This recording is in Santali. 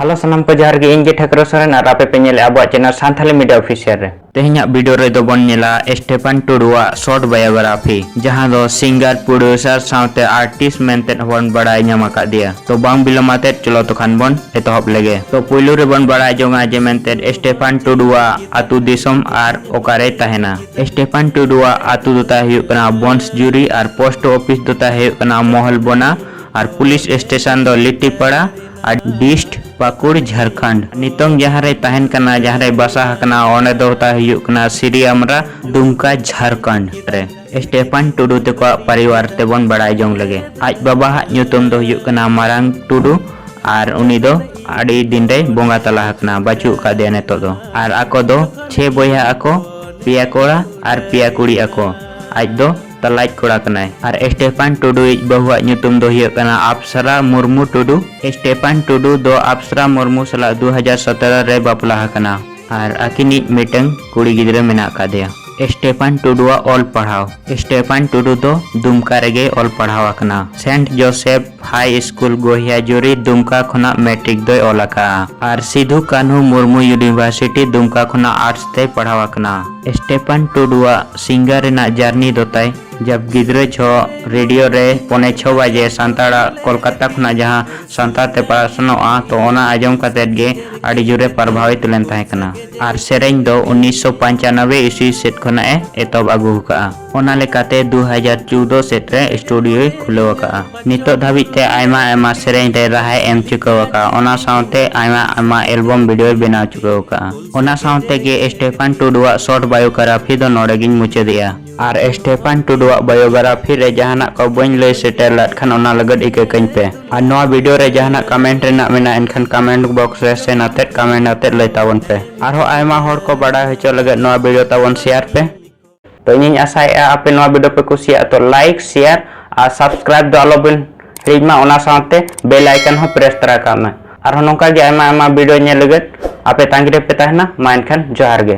ᱦᱮᱞᱳ ᱥᱟᱱᱟᱢ ᱠᱚ ᱡᱚᱦᱟᱨ ᱜᱮ ᱤᱧ ᱜᱮ ᱴᱷᱟᱹᱠᱨᱟᱹ ᱥᱚᱨᱮᱱ ᱟᱨ ᱟᱯᱮ ᱯᱮ ᱧᱮᱞᱮᱫ ᱟᱵᱚᱣᱟᱜ ᱪᱮᱱᱮᱞ ᱥᱟᱱᱛᱷᱟᱞᱤ ᱢᱤᱰᱤᱭᱟ ᱚᱯᱷᱤᱥᱤᱭᱟᱞ ᱨᱮ ᱛᱮᱦᱮᱧᱟᱜ ᱵᱷᱤᱰᱤᱭᱳ ᱨᱮᱫᱚ ᱵᱚᱱ ᱧᱮᱞᱟ ᱥᱴᱮᱯᱟᱱ ᱴᱩᱰᱩᱣᱟᱜ ᱥᱚᱨᱴ ᱵᱟᱭᱳᱜᱨᱟᱯᱷᱤ ᱡᱟᱦᱟᱸ ᱫᱚ ᱥᱤᱝᱜᱟᱨ ᱯᱨᱚᱰᱭᱩᱥᱟᱨ ᱥᱟᱶᱛᱮ ᱟᱨᱴᱤᱥᱴ ᱢᱮᱱᱛᱮ ᱦᱚᱸᱵᱚᱱ ᱵᱟᱲᱟᱭ ᱧᱟᱢ ᱟᱠᱟᱫᱮᱭᱟ ᱛᱚ ᱵᱟᱝ ᱵᱤᱞᱚᱢᱟᱛᱮ ᱪᱚᱞᱚ ᱛᱚᱠᱷᱟᱱ ᱵᱚᱱ ᱮᱛᱚᱦᱚᱵ ᱞᱮᱜᱮ ᱛᱚ ᱯᱩᱭᱞᱩ ᱨᱮᱵᱚᱱ ᱵᱟᱲᱟᱭ ᱡᱚᱝᱟ ᱡᱮ ᱢᱮᱱᱛᱮ ᱥᱴᱮᱯᱟᱱ ᱴᱩᱰᱩᱣᱟᱜ ᱟᱛᱩ ᱫᱤᱥᱚᱢ ᱟᱨ ᱚᱠᱟᱨᱮ ᱛᱟᱦᱮᱱᱟ ᱥᱴᱮᱯᱟᱱ ᱴᱩᱰᱩᱣᱟᱜ ᱟᱛᱩ ᱫᱚ ᱛᱟᱭ ᱦᱩᱭᱩᱜ ᱠᱟᱱᱟ ᱵᱚᱱᱥᱡᱩᱨᱤ ᱟᱨ ᱯᱳᱥᱴ ᱚᱯᱷᱤᱥ ᱫᱚ ᱛᱟᱭ ᱦᱩᱭᱩᱜ ᱠᱟᱱᱟ ᱢᱚᱦᱚᱞᱵᱚᱱᱟ ᱟᱨ ᱯᱩᱞᱤᱥ ᱥᱴᱮᱥᱚᱱ ᱫᱚ ᱞᱤᱴᱤᱯᱟᱲᱟ ᱟᱨ ᱰᱤᱥᱴ ᱯᱟᱠᱩᱲ ᱡᱷᱟᱨᱠᱷᱚᱸᱰ ᱱᱤᱛᱚᱝ ᱡᱟᱦᱟᱸ ᱨᱮ ᱛᱟᱦᱮᱱ ᱠᱟᱱᱟ ᱡᱟᱦᱟᱸ ᱨᱮ ᱵᱟᱥᱟ ᱟᱠᱟᱱᱟ ᱚᱸᱰᱮ ᱫᱚ ᱛᱟ ᱦᱩᱭᱩᱜ ᱠᱟᱱᱟ ᱥᱨᱤ ᱟᱢᱨᱟ ᱫᱩᱢᱠᱟ ᱡᱷᱟᱨᱠᱷᱚᱸᱰ ᱨᱮ ᱥᱴᱮᱯᱷᱟᱱ ᱴᱩᱰᱩ ᱛᱮᱠᱚᱣᱟᱜ ᱯᱟᱨᱤᱣᱟᱨ ᱛᱮᱵᱚᱱ ᱵᱟᱲᱟᱭ ᱡᱚᱝ ᱞᱮᱜᱮ ᱟᱡ ᱵᱟᱵᱟ ᱦᱟᱜ ᱧᱩᱛᱩᱢ ᱫᱚ ᱦᱩᱭᱩᱜ ᱠᱟᱱᱟ ᱢᱟᱨᱟᱝ ᱴᱩᱰᱩ ᱟᱨ ᱩᱱᱤ ᱫᱚ ᱟᱹᱰᱤ ᱫᱤᱱ ᱨᱮ ᱵᱚᱸᱜᱟ ᱛᱟᱞᱟ ᱟᱠᱟᱱᱟ ᱵᱟᱹᱪᱩᱜ ᱟᱠᱟᱫᱮᱭᱟ ᱱᱤᱛᱚᱜ ᱫᱚ ᱟᱨ ᱟᱠᱚ ᱫᱚ ᱪᱷᱮ ᱵᱚᱭᱦᱟ ᱟᱠᱚ ᱯᱮᱭᱟ ᱠᱚᱲᱟ ᱟᱨ ᱯᱮᱭᱟ ᱠᱩᱲᱤ ᱟᱠᱚ ᱟᱡ ᱫᱚ ᱛᱟᱞᱟᱭᱤᱡ ᱠᱚᱲᱟ ᱠᱟᱱᱟᱭ ᱟᱨ ᱮᱥᱴᱮᱯᱟᱱ ᱴᱩᱰᱩ ᱤᱡ ᱵᱟᱹᱦᱩᱣᱟᱜ ᱧᱩᱛᱩᱢ ᱫᱚ ᱦᱩᱭᱩᱜ ᱠᱟᱱᱟ ᱟᱯᱥᱨᱟ ᱢᱩᱨᱢᱩ ᱴᱩᱰᱩ᱾ ᱮᱥᱴᱮᱯᱟᱱ ᱴᱩᱰᱩ ᱫᱚ ᱟᱯᱥᱨᱟ ᱢᱩᱨᱢᱩ ᱥᱟᱞᱟᱜ ᱫᱩ ᱦᱟᱡᱟᱨ ᱥᱚᱛᱮᱨᱚ ᱨᱮᱭ ᱵᱟᱯᱞᱟ ᱟᱠᱟᱱᱟ᱾ ᱟᱨ ᱟᱹᱠᱤᱱᱤᱡ ᱢᱤᱫᱴᱟᱹᱝ ᱠᱩᱲᱤ ᱜᱤᱫᱽᱨᱟᱹ ᱢᱮᱱᱟᱜ ᱟᱠᱟᱫᱮᱭᱟ᱾ ᱮᱥᱴᱮᱯᱟᱱ ᱴᱩᱰᱩᱣᱟᱜ ᱚᱞ ᱯᱟᱲᱦᱟᱣ ᱮᱥᱴᱮᱯᱟᱱ ᱴᱩᱰᱩ ᱫᱚ ᱫᱩᱢᱠᱟ ᱨᱮᱜᱮᱭ ᱚᱞ ᱯᱟᱲᱦᱟᱣ ᱟᱠᱟᱱᱟ᱾ ᱥᱮᱱᱴ ᱡᱚᱥᱮᱯᱷ᱾ ᱦᱟᱭ ᱥᱠᱩᱞ ᱜᱚᱦᱤᱭᱟᱡᱩᱨᱤ ᱫᱩᱢᱠᱟ ᱠᱷᱚᱱᱟᱜ ᱢᱮᱴᱨᱤᱠ ᱫᱚᱭ ᱚᱞ ᱟᱠᱟᱫᱼᱟ ᱟᱨ ᱥᱤᱫᱷᱩ ᱠᱟᱹᱱᱦᱩ ᱢᱩᱨᱢᱩ ᱭᱩᱱᱤᱵᱷᱟᱨᱥᱤᱴᱤ ᱫᱩᱢᱠᱟ ᱠᱷᱚᱱᱟᱜ ᱟᱨᱴᱥ ᱛᱮᱭ ᱯᱟᱲᱦᱟᱣ ᱟᱠᱟᱱᱟ᱾ ᱥᱴᱮᱯᱷᱟᱱ ᱴᱩᱰᱩᱣᱟᱜ ᱥᱤᱝᱜᱟᱨ ᱨᱮᱱᱟᱜ ᱡᱟᱨᱱᱤ ᱫᱚ ᱛᱟᱭ᱾ ᱡᱟᱵᱽ ᱜᱤᱫᱽᱨᱟᱹ ᱡᱷᱚᱜ ᱨᱮᱰᱤᱭᱳ ᱨᱮ ᱯᱚᱱᱮ ᱪᱷᱚ ᱵᱟᱡᱮ ᱥᱟᱱᱛᱟᱲᱟᱜ ᱠᱚᱞᱠᱟᱛᱟ ᱠᱷᱚᱱᱟᱜ ᱡᱟᱦᱟᱸ ᱥᱟᱱᱛᱟᱲ ᱛᱮ ᱯᱟᱥᱱᱟᱣᱜᱼᱟ ᱛᱚ ᱚᱱᱟ ᱟᱸᱡᱚᱢ ᱠᱟᱛᱮ ᱜᱮ ᱟᱹᱰᱤ ᱡᱳᱨ ᱮ ᱯᱨᱚᱵᱷᱟᱣᱤᱛ ᱞᱮᱱ ᱛᱟᱦᱮᱸ ᱠᱟᱱᱟ ᱟᱨ ᱥᱮᱨᱮᱧ ᱫᱚ ᱩᱱᱤᱥᱥᱚ ᱯᱟᱧᱪᱟᱱᱚᱵᱽᱵᱮ ᱤᱥᱣᱤ ᱥᱮᱫ ᱠᱷᱚᱱᱟᱜ ᱮ ᱮᱛᱚᱦᱚᱵ ᱟᱹᱜᱩ ᱟᱠᱟᱫᱼᱟ᱾ ᱚᱱᱟ ᱞᱮᱠᱟᱛᱮ ᱫᱩ ᱦᱟᱡᱟᱨ ᱪᱳᱣᱫᱚ ᱥᱮᱫ ᱨᱮ ᱥᱴᱩᱰᱤᱭᱳᱭ ᱠᱷᱩᱞᱟᱹᱣ ᱟᱠᱟᱫᱼᱟ᱾ ᱱᱤᱛᱚᱜ ᱫᱷᱟᱹᱵᱤᱡ ᱛᱮ ᱟᱭᱢᱟ ᱟᱭᱢᱟ ᱥᱮᱨᱮᱧ ᱨᱮ ᱨᱟᱦᱟᱭ ᱮᱢ ᱪᱩᱠᱟᱹᱣ ᱟᱠᱟᱫᱼᱟ ᱚᱱᱟ ᱥᱟᱶᱛᱮ ᱟᱭᱢᱟ ᱟᱭᱢᱟ ᱮᱞᱵᱚᱢ ᱵᱷᱤᱰᱤᱭᱳᱭ ᱵᱮᱱᱟᱣ ᱪᱩᱠᱟᱹᱣ ᱟᱠᱟᱫᱼᱟ᱾ ᱚᱱᱟ ᱥᱟᱶᱛᱮ ᱜᱮ ᱥᱴᱮᱯᱷᱟᱱ ᱴᱩᱰᱩᱣᱟᱜ ᱥᱚᱨᱴ ᱵᱟᱭᱳᱜᱨᱟᱯᱷᱤ ᱫᱚ ᱱᱚᱰᱮ ᱜᱮᱧ ᱢᱩᱪᱟᱹᱫᱮᱜᱼᱟ᱾ ᱟᱨ ᱥᱴᱮᱯᱷᱟᱱ ᱴᱩᱰᱩᱣᱟᱜ ᱵᱟᱭᱳᱜᱨᱟᱯᱷᱤ ᱨᱮ ᱡᱟᱦᱟᱱᱟᱜ ᱠᱚ ᱵᱟᱹᱧ ᱞᱟᱹᱭ ᱥᱮᱴᱮᱨ ᱞᱮᱫ ᱠᱷᱟᱱ ᱚᱱᱟ ᱞᱟᱹᱜᱤᱫ ᱤᱠᱟᱹ ᱠᱟᱹᱧ ᱯᱮ᱾ ᱟᱨ ᱱᱚᱣᱟ ᱵᱷᱤᱰᱤᱭᱳ ᱨᱮ ᱡᱟᱦᱟᱱᱟᱜ ᱠᱟᱢᱮᱱᱴ ᱨᱮᱱᱟᱜ ᱢᱮᱱᱟᱜᱼᱟ ᱮᱱᱠᱷᱟᱱ ᱠᱟᱢᱮᱱᱴ ᱵᱚᱠᱥ ᱨᱮ ᱥᱮᱱ ᱟᱛᱮᱫ ᱠᱟᱢᱮᱱᱴ ᱟᱛᱮᱫ ᱞᱟᱹᱭ ᱛᱟᱵᱚᱱ ᱯᱮ᱾ ᱟᱨᱦᱚᱸ ᱟᱭᱢᱟ ᱦᱚᱲ ᱠᱚ ᱵᱟᱰᱟᱭ ᱦᱚᱪᱚ ᱞᱟᱹᱜᱤᱫ ᱱᱚᱣᱟ ᱵᱷᱤᱰᱤᱭᱳ ᱛᱟᱵᱚᱱ ᱥᱮᱭᱟᱨ ᱯᱮ᱾ ᱛᱚ ᱤᱧᱤᱧ ᱟᱥᱟᱭᱮᱫᱼᱟ ᱟᱯᱮ ᱱᱚᱣᱟ ᱵᱷᱤᱰᱤᱭᱳ ᱯᱮ ᱠᱩᱥᱤᱭᱟᱜᱼᱟ ᱛᱚ ᱞᱟᱭᱤᱠ ᱥᱮᱭᱟᱨ ᱟᱨ ᱥᱟᱵᱥᱠᱨᱟᱭᱤᱵ ᱫᱚ ᱟᱞᱚᱵᱮᱱ ᱦᱤᱲᱤᱧ ᱢᱟ ᱚᱱᱟ ᱥᱟᱶᱛᱮ ᱵᱮᱞ ᱟᱭᱠᱚᱱ ᱦᱚᱸ ᱯᱨᱮᱥ ᱛᱟᱨᱟ ᱠᱟᱜ ᱢᱮ ᱟᱨᱦᱚᱸ ᱱᱚᱝᱠᱟ ᱜᱮ ᱟᱭᱢᱟ ᱟᱭᱢᱟ ᱵᱷᱤᱰᱤᱭᱳ ᱧᱮᱞ ᱞᱟᱹᱜᱤᱫ ᱟᱯᱮ ᱛᱟᱺᱜᱤ ᱨᱮᱯᱮ ᱛᱟᱦᱮᱱᱟ ᱢᱟ ᱮᱱᱠᱷᱟᱱ ᱡᱚᱦᱟᱨ ᱜᱮ